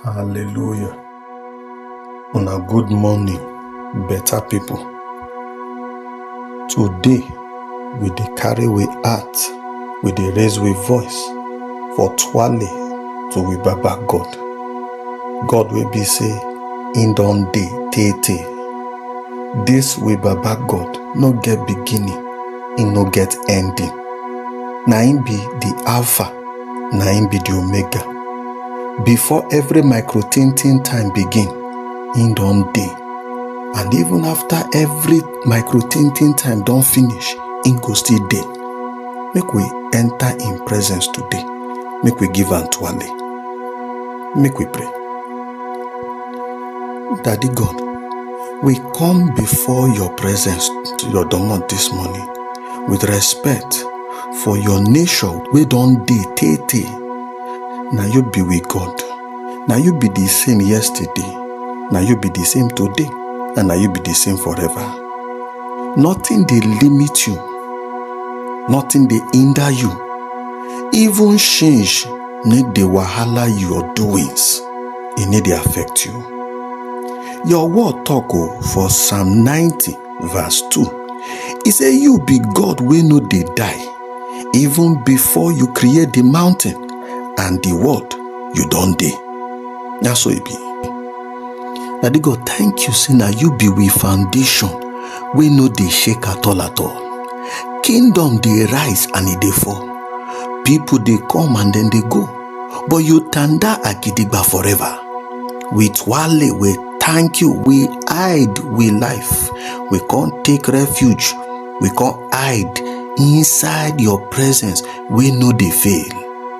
Hallelujah. On a good morning, better people. Today, we dey carry we heart, we dey raise we voice for twale to we Baba God. God will be say, in don day, tey tey. This we Baba God no get beginning, e no get ending. Na him be the Alpha na him be the omega before every micro tintin time begin him don dey and even after every micro tintin time don finish him go still dey make we enter him presence today make we give am twale make we pray daddy god we come before your presence to your domot this morning with respect for your nature wey don dey tey tey na you be we god na you be the same yesterday na you be the same today and na you be the same forever nothing dey limit you nothing dey hinder you even change need dey wahala your doings e need dey affect you your word talk o for psalm ninety Verse 2 He say, You be God wey no dey die, even before you create the mountain and the world, you don dey. Na so e be. Daddy God, thank you say na you be we foundation wey no dey shake at all at all. Kingdom dey rise and e dey fall. People dey come and dem dey go, but you tanda agidigba forever. With wale wey thank you we hide we life we come take refuge we come hide inside your presence we no dey fail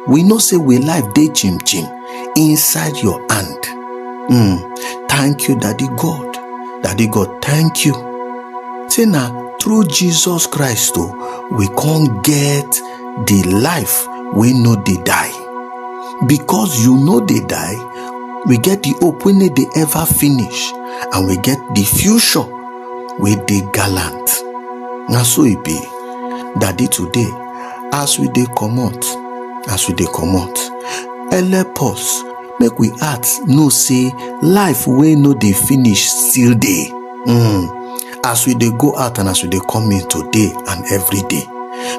we know say we life dey chim chim inside your hand mm. thank you daddy god daddy god thank you say na through jesus christ o we come get the life wey no dey die because you no dey die we get the hope wey no dey ever finish and we get the future wey dey gallant na so e be daddy today as we dey comot as we dey comot help us make we heart know say life wey no dey finish still dey um as we dey go out and as we dey come in today and every day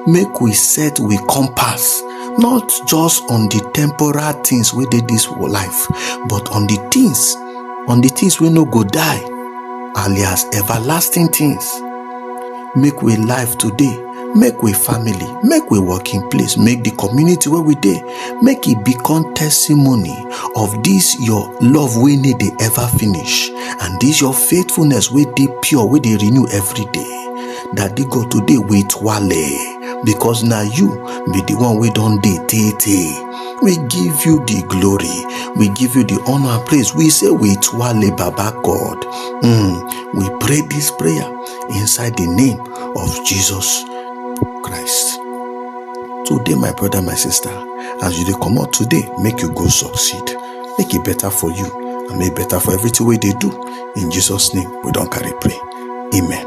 make we set we compass not just on the temporal things wey dey this life but on the things on the things wey no go die alias everlasting things make we life today make we family make we working place make the community where we dey make it become testimony of this your love wey need dey ever finish and this your faithfulness wey dey pure wey dey renew every day daddy god today wait wale because na you be the one wey don dey tey tey we give you the glory we give you the honor and praise we say wait wale baba god mm, we pray this prayer inside the name of Jesus Christ. Today, my brother, my sister, as you dey come out today, make you go succeed. Make it better for you and make better for everything way they do. In Jesus' name, we don't carry pray. Amen.